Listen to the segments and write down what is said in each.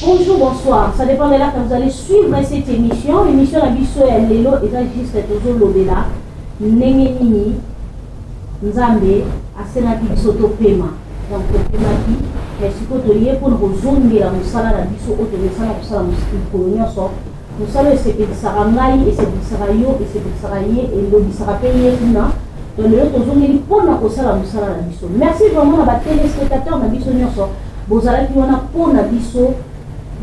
Bonjour, bonsoir. Ça dépend de là que vous allez suivre cette émission. L'émission La Bisso et Lelo est juste toujours l'obéla. Nengenini, Nzambe, asenaki biso topema. Donc topemaki, mais sikoyo toye mpona kozongela mosala na biso oyo tokosala kosala mokolo nyonso Mosala esepelisaka ngai, esepelisaka yo, esepelisaka ye, elobisaka pe ye kuna. Donc lelo tozongeli pona kosala mosala na biso. Merci vraiment na ba telespectateurs na biso nionso bozalaki wana pona biso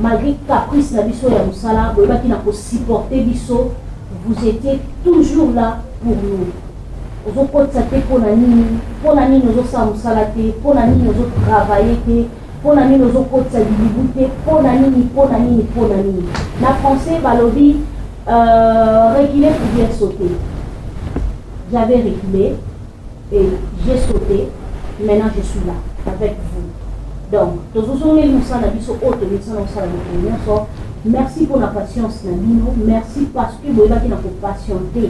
malgre caprice na biso ya mosala boyebaki na ko supporter biso vous étiez toujours là pour nous. ozokotisa te mpo na nini mpo na nini ozosala mosala te mpo na nini ozotravaille te Pona nini ozo kotisa bibibu te pona nini pona nini pona nini na français balobi euh, recule pour bien sauter j'avais reculé et j'ai sauté maintenant je suis là avec vous donc tozozongeli mosala na biso oyo tomilisana kosala mikolo nyonso merci mpo na patience na bino merci parce que boyebaki na kopatiente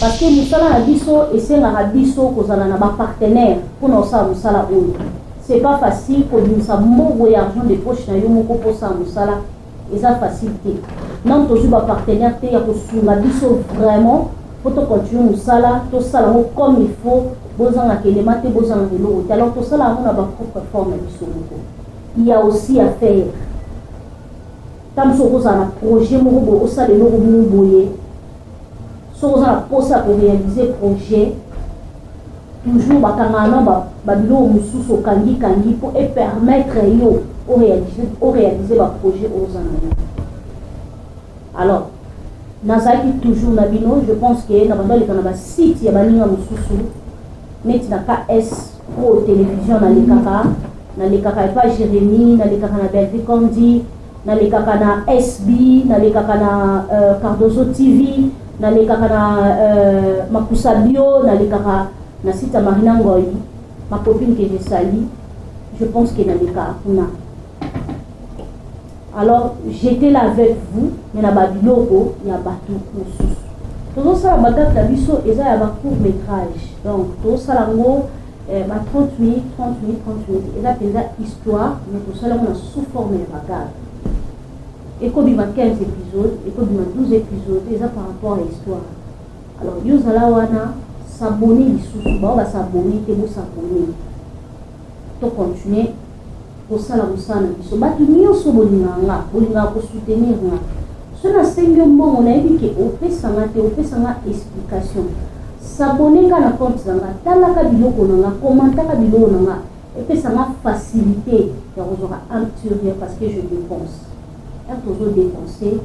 parce que mosala na biso esengaka biso kozala na bapartenaire mpona kosala mosala oyo C'est pas facile kobimisa mbongo ya argent de poche na yo moko mpo osala mosala eza facile te nano tozwi ba partenaire te ya kosunga biso vraiment mpo to continue mosala tosala yango comme il faut bozangaka elema te bozangaka eloko te alors tosala yango na bapropre forme ya biso moko ya aussi ya faire ntango mosusu okozala na projet moko boye osala eloko moko boye Soki oza na posa ya ko realiser projet toujours ba kangaka na ba ba biloko mosusu okangi kangi po e permettre yo o realiser o realiser ba projet oyo oza na yo. Alors nazalaki toujours na bino je pense que na banda leka na ba site ya baninga mosusu neti na KS pro television na lekaka na lekaka epa Jérémie na lekaka na Bellevue Condi Nalekaka na SB, nalekaka na Cardozo TV, nalekaka na Makusa Bio, nalekaka na site ya Marina Ngoy, ma copine que je salue, je pense que nalekaka kuna. Alors, j'étais là avec vous, mais na babiloko ya batu mosusu. Tozosala bagate na biso eza ya ba court métrage. Donc, tozosala ngo Eh, ba 30 minutes, 30 minutes, 30 minutes, eza mpenza histoire, mais tosala yango na sous forme ya bagage. Ekobima 15 épisodes, ekobima 12 épisodes, eza par rapport ya histoire. Alors, yo zala wana, s'abonner lisusu, bao ba s'abonner te, bo s'abonner. To continuer kosala mosala na biso bato nyonso bolingaka nga bolingaka kosoutenir nga so nasengi yo mbongo nayebi ke opesa nga te opesa nga explication sabone nga na compte na nga talaka biloko na nga komantaka biloko na nga epesa nga facilité ya kozwaka amturia parce que je dépense Tango tozo depenser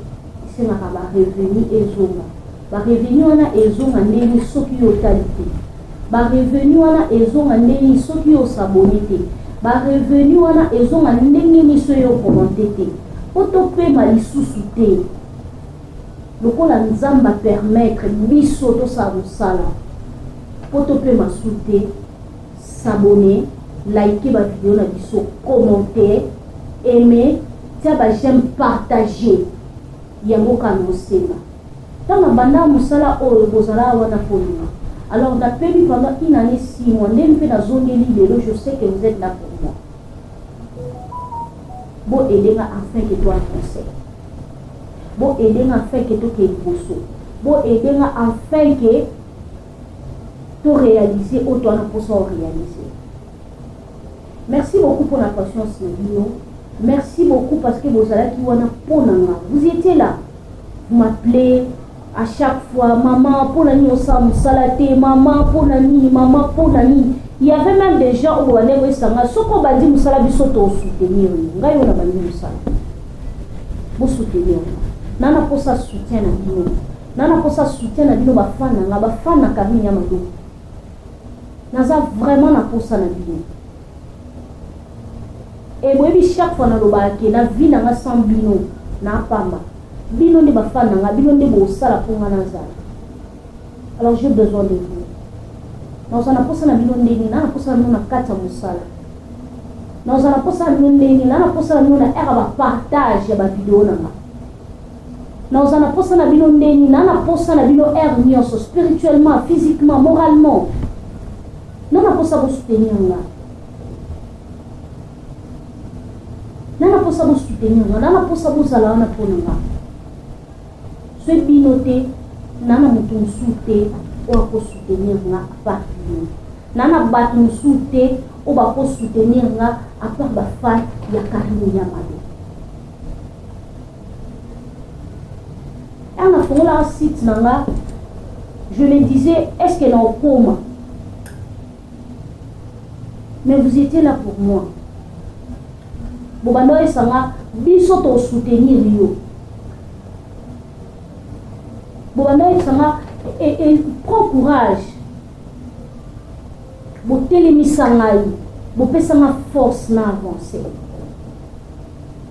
esengaka ba revenus ezonga. Ba revenus wana ezonga nde ni soki yo otali te. Ba revenus wana ezonga nde ni soki yo o s'abonner te. Ba revenus wana ezonga ndenge ni soki yo o commenter te. Po to pema lisusu te lokola Nzambe a permettre biso tosala mosala po to pema su te. S'abonner, liker ba video na biso, commenter, aimer, tia ba j'aime, partager. Yango kaka na osenga. Tango na bandaka mosala oyo bozalaka wana polima. Alors na pemi pendant une annee six mois nde mpe na zongeli lelo je sais que vous êtes là pour moi. Bo aider nga afin que toi conseil. Bo aider nga afin que tokende liboso. Bo aider nga afin que to realiser oyo toza na mposa o realiser merci beaucoup mpo na patience na bino merci beaucoup parce que bozalaki wana mpo na nga vous étiez là vous m'appelez à chaque fois maman mpo na nini osala mosala te maman mpo na nini maman mpo na nini il y avait même des gens oyo bandeko esanga soki obandi mosala biso tosoutenir yo ngai oyo nabandi mosala bosoutenir nga na naposa soutien na bino Naza na posa soutien na bino ba fan na nga, ba fan na Carine ya Maloba. Naza vraiment na posa na bino. Et boyebi chaque fois nalobaka ke na vie na nga sans bino na pamba. Bino nde ba fan na nga, bino nde bosala mpo nga nazala. Alors j'ai besoin de vous. Naza na posa na bino ndenge, na na posa na bino na kati ya mosala. Naza na posa na bino ndenge, na na posa na bino na ère ba partage ya ba video na nga. Na oza na posa na bino ndeni na na posa na bino heure nionso spirituellement, physiquement, moralement. Na na posa bo soutenir nga. Na na posa bo soutenir nga, na na posa bo zala wana pona nga. Soki bino te, na na moto mosusu te oyo ako soutenir nga à part bino. Na na bato mosusu te oyo bako soutenir nga à part ba fan ya Carine Yamado. Ana fongola site na nga je me disais est-ce que na okoma mais vous étiez là pour moi bobanda oyesa nga biso tosoutenir yo bobanda oyesa nga e, e, prend courage botelemisa ngai bopesa nga force na avance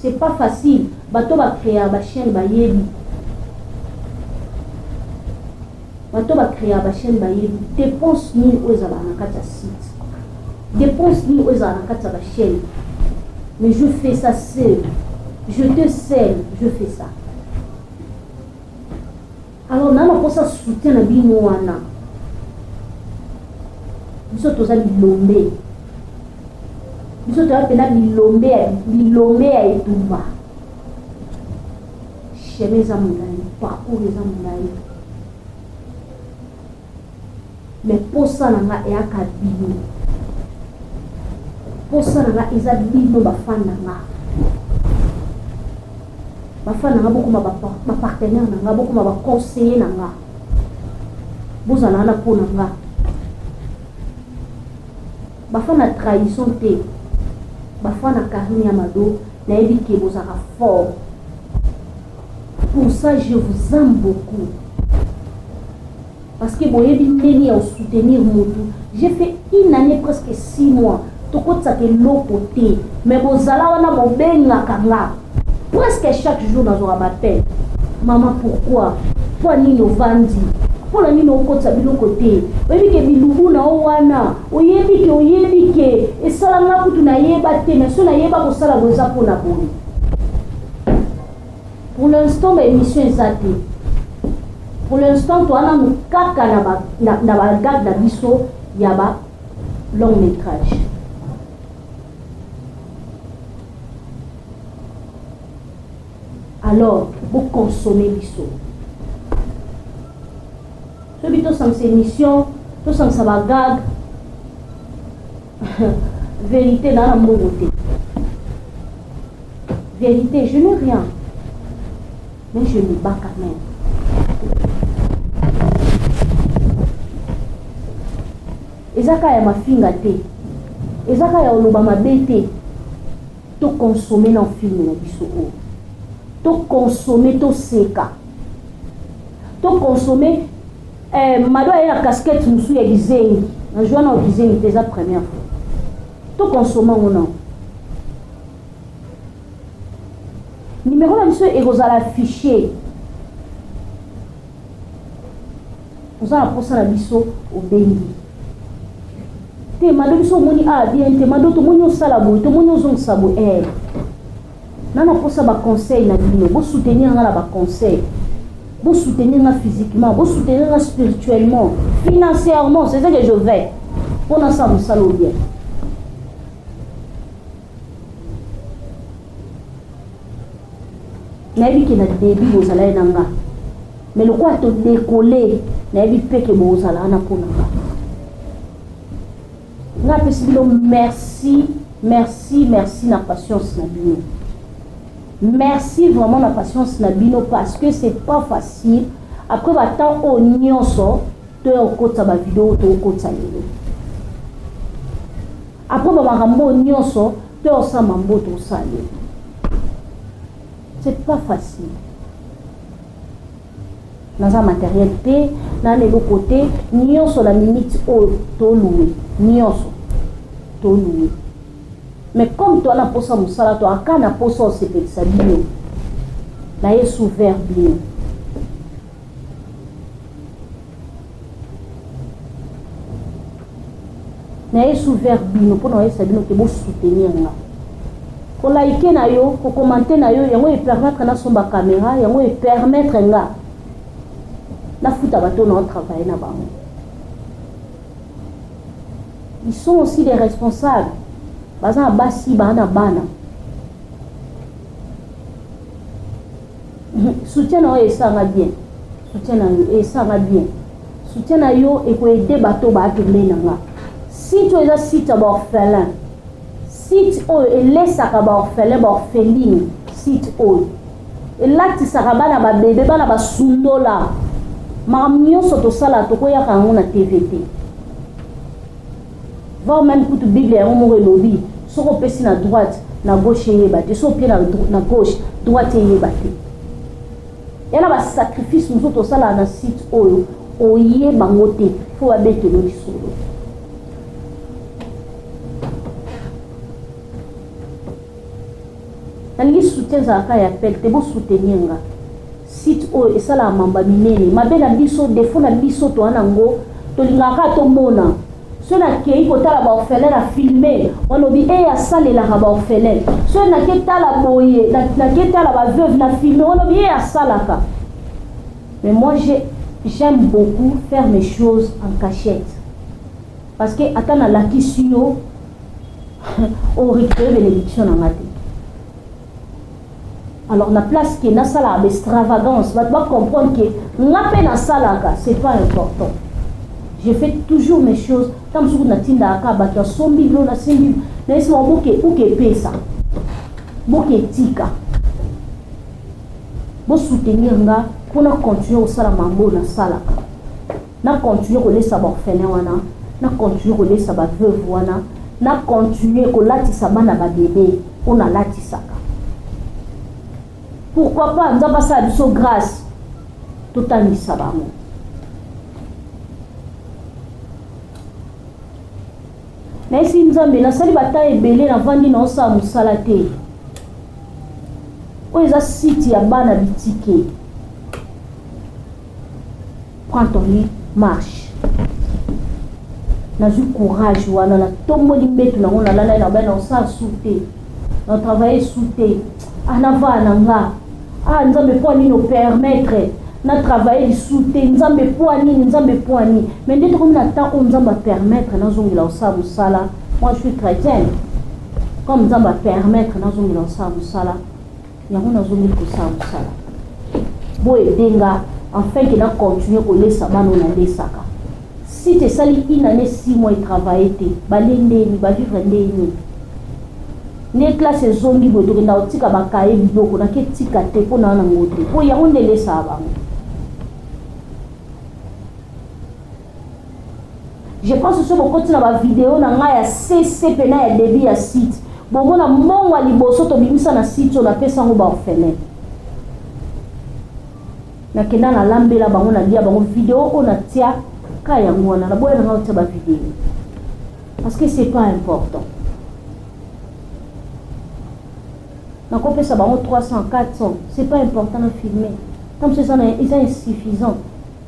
C'est pas facile bato ba creaka ba chaine bayebi bato ba creaka ba chaine bayebi depense nini oyo ezalaka na kati ya site depense nini oyo ezalaka na kati ya ba chaine mais je fais ça seul je te seul je fais ça Alors na nakosa soutien na bino wana biso toza bilombe biso toza mpena bilombe ya bilombe ya etumba chemin eza molai parcours eza molai Mais posa na nga eyaka bino. Posa na nga eza bino ba fan na nga. Ba fan na nga bokoma ba, ba partenaire na nga, bokoma ba conseiller na nga. Bozala wana po na nga. Ba fan na trahison te. Ba fan na Karine Amado, nayebi ke bozaka fort. Pour ça je vous aime beaucoup parce que boyebi ndenge ya soutenir mutu j'ai fait une année presque six mois tokotisaka eloko te mais bozala wana bobengaka nga presque chaque jour nazwaka bapele mama pourquoi mpo nini ovandi mpo na nini okotisa biloko te oyebi ke bilubu na yo wana oyebi ke oyebi ke esala nga kutu nayeba te mais so nayeba kosala boza mpo na boye Pour l'instant ba emission eza te. Pour l'instant toa nanu kaka na ba na, na ba gag na biso ya ba long métrage. Alors, bo consommer biso. Soki tosangisa émission, tosangisa ba gag verite na na mbongo te verite je n'ai rien mais je me bats quand même eza kaka ya mafinga te eza kaka ya oloba mabe te tokonsome na filme na biso oyo tokonsome toseka tokonsome Eh, Mado aye na casquette mosusu ya kizengi na joua nao kizengi te eza première fois to consomma ngo nao nimero na biso ekozala affiche oza na mposa na biso obengi te mado biso omoni a ah, bien te mado tomoni osala boye tomoni ozongisa boye eh. Nana posa ba conseil na bino, bo soutenir nga na ba conseil. Bo soutenir nga physiquement, bo soutenir nga spirituellement, financièrement, c'est ça que je veux. Pour na sa musalo bien. nayebi ke na debi bozala ye na nga mais lokola todekole nayebi mpe ke bozala wana mpo na nga Nga pesi bino merci, merci, merci na patience na bino. Merci vraiment na patience na bino parce que c'est pas facile. Après ba temps au nyonso to ya kokotisa ba video to kokotisa lelo. Après ba makambo nyonso to ya kosala mambo to kosala lelo. C'est pas facile. naza materiel te na na eloko te nyonso na minute oyo tolue nyonso tolue mais comme toa na mposa mosala toaka na mposa osepelisa bino na ye souvert bino naye sous vers bino mpo na koyebisa bino ke bosoutenir nga kolaike na yo kokomante na yo yango epermettre nasomba kamera yango epermettre nga nafuta bato na otravaille na bango ils sont aussi des responsables baza na basi baa na bana Soutien na yo esa nga bien Soutien na yo esa nga bien Soutien na yo eko aider bato ba pembeni na nga Site oyo eza site ya ba orphelins Site oyo elesaka ba orphelins ba orphelines Site oyo elatisaka bana ba bebe bana ba sundola makambo nyonso tosala tokoyaka yango na TV te Voir meme kutu Biblia yango moko elobi soki opesi na droite na gauche eyeba te soki opie na gauche droite eyeba te ya na basacrifice mosusu tosalaka na site oyo oye bango te mpo babetelo lisolo nalingi soutien ezalaka ya appel te bosoutenir nga Site oyo esalaka mamba minene mabe na biso defo na biso toa na ngo tolingaka kaka tomona soki nakei kotala baorphelin na filme wanobi e eh, asalelaka baorphelin soki nake tala boye nake tala baveuve na filme wanobi e eh, asalaka mais moi j'aime beaucoup faire mes choses en cachette parce que ata nalakisi yo orecupere benediction na nga te Alors na place que nasalaka ba extravagance bato ba comprendre que nga mpe nasalaka c'est pas important je fais toujours mes choses ntango mosusu natindaka kaka bato asombi bilo nasimbi nayesima boke uke epesa boke etika bosoutenir nga mpo na continuer kosala mambo nasalaka Na continuer ko lesa ba orphelins wana, na continuer ko lesa ba veuves wana, na continuer ko latisa bana ba bebe oyo na latisaka. Pourquoi pas Nzambe asala biso grâce totangisa bango. nayesi nzambe nasali bata ebele navandi naosala mosala te oyo eza site ya bana bitike prends ton lit marche nazwi courage wana natomboli mbetu nango nalalai na bai na osala su te na travaille su te anavaa ah, na nga ah nzambe mpo nini opermettre na travaille lisu te nzambe mpo nini nzambe mpo nini me nde tokomi na temps oyo nzambe apermettre nazongela osala mosala moi je suis chrétienne comme nzambe apermettre nazongela osala mosala Yango nazo mi kosala mosala. Bo aider nga enfin que na continuer ko lesa bana oyo na lesaka. Site esali une annee six mois e travailler te. Ba lie nde nini? Ba vivre nde nini? Nde classe ezongi boye tokenda kotika ba cahier biloko na ke tika te mpo na na ngo te. Mpo yango nde elesaka bango. Je pense soki bokoti na ba video na ngai ya CC pena ya debut ya site bomona mbongo ya liboso tobimisa na site oyo napesa yango baorphelin nakenda nalambela bango nalia bango video oyo natia ka yango wana naboya na ngai otia bavideo parce que c'est pas important nakopesa bango 300 400 c'est pas important na filme ntango mosusu eza insuffisant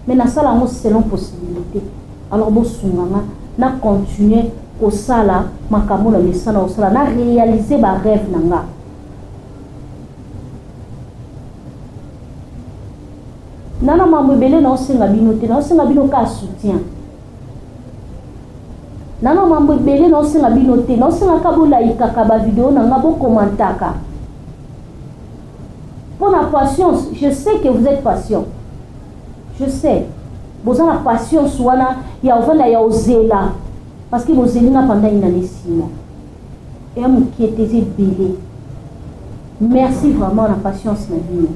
mais na sala yango selon possibilite alors bo sunga nga na continuer ko sala makambo na mesana ko sala na realiser ba rêve na nga na na mambo ebele na osenga bino te na osenga bino ka soutien na na mambo ebele na osenga bino te na osenga ka bolayikaka ba video na nga bo commentaka Pour la patience, je sais que vous êtes patient. Je sais. Boza na patience wana ya ovanda ya ozela. Parce que bozeli na pendant une année six mois. Et mokie te ebele. Merci vraiment na patience na bino.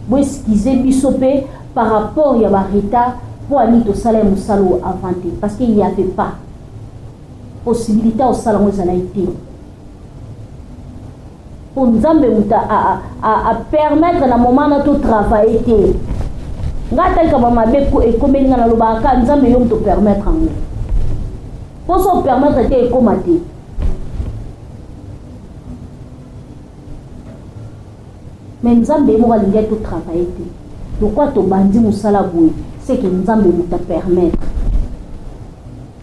Bo excuser biso pe par rapport ya ba retard po ani tosala ya mosala oyo avant te parce qu'il y avait pas possibilité osala ngo ezalaki te. po nzambe mutu a permettre na moment na to travailler te nga ata likambo mabe ekomeli nga nalobaka ka nzambe yo mutu permettre yango po so permettre te ekoma te me nzambe ye moko alingi to travailler te lokwa tobandi mosala boye seke nzambe mutu a permettre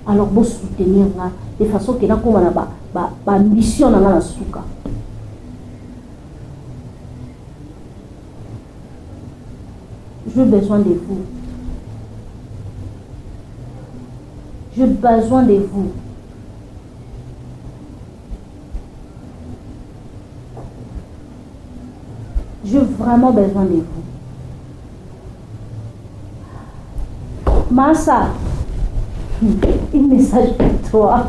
Alors bo soutenir nga de façon que nakoma na ba ba ba ambition na nga na suka. J'ai besoin de vous. J'ai besoin de vous. J'ai vraiment besoin de vous. Masa, une message pour toi.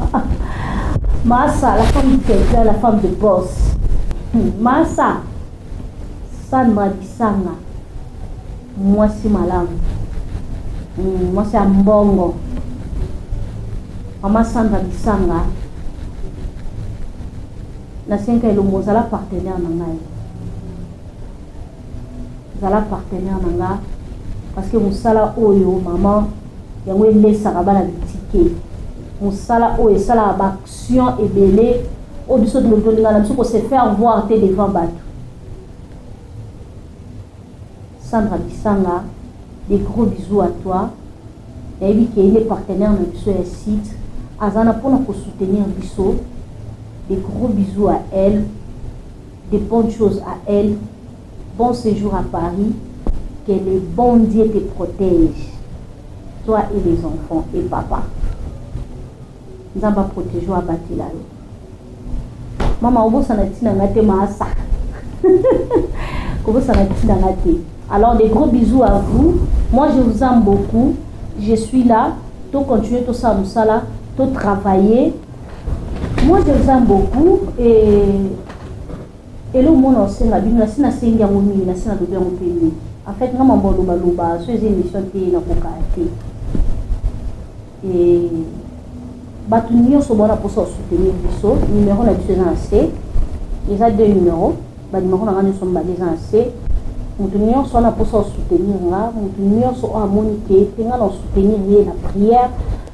Masa, la femme de quelqu'un, la femme de boss. Masa, Sandra Kisanga, mwasi malamu, hmm, mwasi ya mbongo. Mama Sandra Kisanga, na senka elongo ozala partenaire na ngai. Zala partenaire na nga parce que musala oyo maman yango elesaka bana bitike musala oyo esalaka ba action ebele oyo biso tolingana na biso ko se faire voir te devant bato Sandra Kisanga des gros bisous à toi nayebi ke ye partenaire na biso ya site aza na mpona kosoutenir biso des gros bisous à elle de bonne chose à elle bon sejour à Paris que le bon Dieu te protège toi et les enfants et papa nzambe aprotege oyo abatela yo mama obosana ntina nga te maasa kobosana ntina nga te alors des gros bisous à vous moi je vous aime beaucoup je suis là to continuer tosala mosala to travailler Moi je vous aime beaucoup et eloko moko na kosenga bino na si nasengi yango mingi na si nalobi yango mpe mingi en fait nga mambo alobaloba so eza émission te nakokaya te e bato nyonso bona mposa osoutenir biso numero na biso eza na se eza deux numero banimero na nga nyonso mibale eza na se moto nyonso wana mposa osoutenir nga moto nyonso oyo amoni te mpe nga na osoutenir ye na prière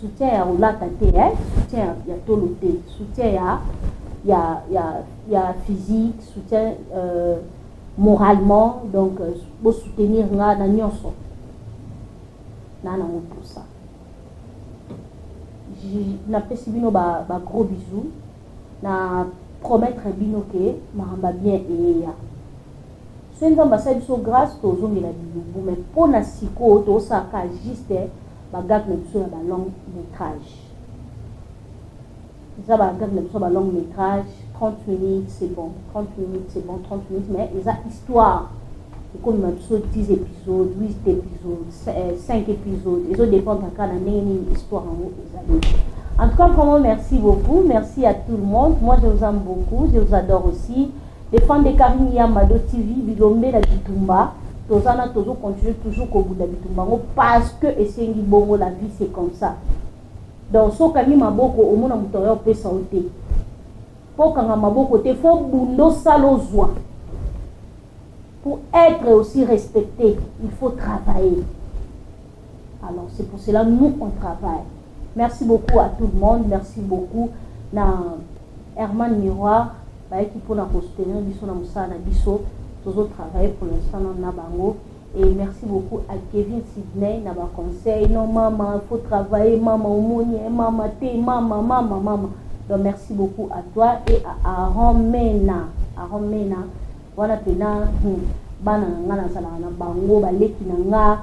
soutien ya kolata te eh? soutien ya, ya tolo te soutien ya ya ya ya physique soutien euh, moralement donc euh, bosoutenir nga na nyonso na nango mposa napesi bino ba, ba gros bisous na promettre bino ke makambo bien eyeya soki nzambe asali biso grâce tozongela bilubu mai mpo na sikoyo tozosala ka juste Ba gag na biso ya ba long metrage eza ba gag na biso ya ba long metrage 30 minutes c'est bon 30 minutes c'est bon 30 minutes mais eza histoire ekomema biso 10 épisode 8 épisode 5 épisode ezo dépendre kaka na ndenge nini histoire yango ezali en tout cas vraiment merci beaucoup merci à tout le monde moi je vous aime beaucoup je vous adore aussi Les fans de Carine ya Mado TV bilombe na bitumba toza na tozo continuer toujours kobunda bitumba yango parce que esengi bongo la vie c'est comme ça donc so okangi maboko omona moto aya opesa yo te mpo okanga maboko te fo bunda osala ozwa pour être aussi respecté il faut travailler Alors c'est pour cela nous on travaille. Merci beaucoup à tout le monde, merci beaucoup na Herman Miroir bayaki mpona ko soutenir biso na mosala na biso tozo travailler pour l'instant na bango et merci beaucoup à Kevin Sydney na ba conseil non mama faut travailler mama omoni eh, mama te mama mama mama donc merci beaucoup à toi et à Aaron Mena Aaron Mena wana pena hmm, bana na nga nazalaka na bango baleki na nga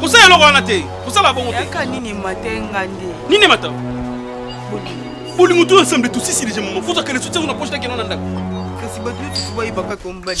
kosala eloko wana te kosala bongo te nini mata bolingo to ensemble tosisi deja mama fozwa kele sotiango na poche nakeno na ndako kasi bato nyonso bayebaka kombani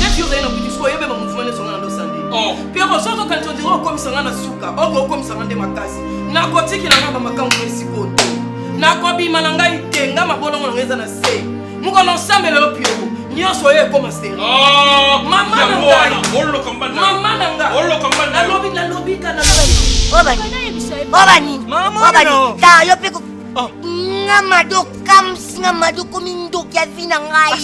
Depuis ozali na butu sikoyo oyebema mouvement nyonso nga na losande oh. piero soki okanisi ondire okomisa nga na suka oko okomisa nga nde makasi nakotikela nga bamakambo na esiko te nakobima na ngai te nga mabolongo na ngai eza na se mokolo osambela yo piero nyonso oyo ekoma seri oh, mama na ngai mama na ngai nalobi nalobi kanaa obanini obanini ta yo mpe Oh. nga mado kamsi nga mado komi ndoki ya vi na ngai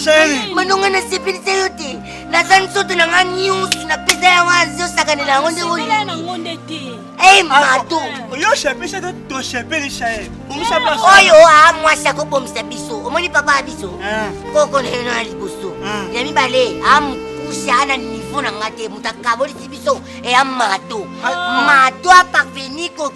mado ngai nasepelisa yo te naza nzoto na ngai nyonso napesa yango azosakanela yango nde oyo e mado oyo osepelisa te tosepelisa ye bomisa place oyo a mwasi akobomisa biso omoni papa ya biso eh. koko na ye na liboso eh. ya mibale a mokuse ana niveau na ngai te moto akabolisi biso eya mado mado aparveni ko